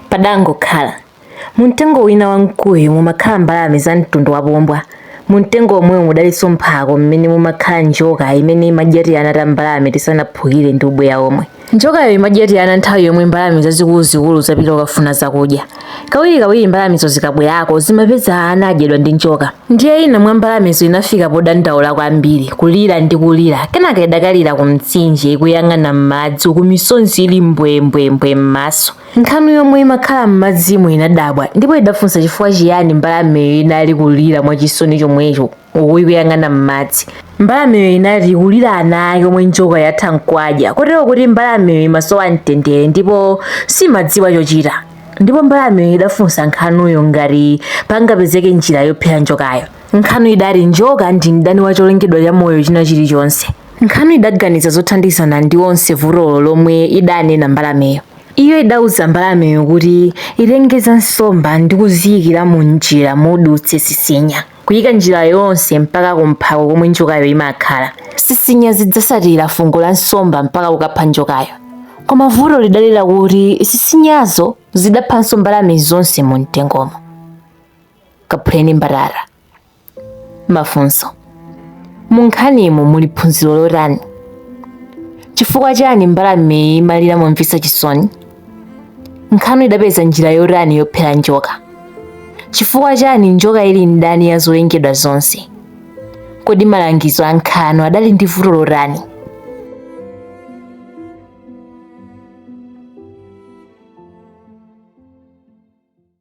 Padangokhala. Mu mtengo wina wa mkuyu mumakhala mbalame za mtundu wa pombwa. Mu mtengo womwewo mudalinso mphako mmene mumakhala njoka imene imadya tiana ta mbalame tisanaphukire ndi ubweya omwe. Njokayo imadya tiana nthawi yomwe mbalame zazikuluzikulu zapita kukafuna zakudya. Kawirikawiri mbalamezo zikabwerako zimapeza ana adyedwa ndi njoka. Ndiye ina mwa mbalamezo inafika podandaula kwambiri, kulira ndi kulira. Kenaka idakalira ku mtsinje ikuyang'ana m'madzi uku misonzi ili mbwembwembwe m'maso. Nkhanu yomwe imakhala m'madzimo inadabwa ndipo idafunsa chifukwa chiyani mbalameyo inali kulira mwachisoni chomwecho uku ikuyang'ana m'madzi. Mbalameyo inati ikulira ana ake omwe njoka yatha n'kuwadya kotero kuti mbalameyo imasowa mtendere ndipo simadziwa chochita. Ndipo mbalameyo idafunsa nkhanuyo ngati pangapezeke njira yophera njokayo. Nkhanu idati njoka ndi mdani wa cholengedwa cha moyo china chilichonse. Nkhanu idaganiza zothandizana ndi onse vutolo lomwe idanena mbalameyo. Iyo idauza mbalameyo kuti itenge za nsomba ndi kuziyikira mu njira mudutse sisinya, kuyika njira yonse mpaka ku mphako komwe njokayo imakhala. Sisinya zidzasatira fungo la nsomba mpaka kukapha njokayo. Koma vuto lidali lakuti sisinyazo zidaphanso mbalame zonse mu mtengomo. Kaphuleni mbatata. Mafunso: Mu nkhanimu muli phunziro lotani? Chifukwa chani mbalameyi imalira momvetsa chisoni? Nkhanu idapeza njira yotani yophera njoka? Chifukwa chani njoka ili mdani ya zolengedwa zonse? Kodi malangizo a nkhanu adali ndi vuto lotani?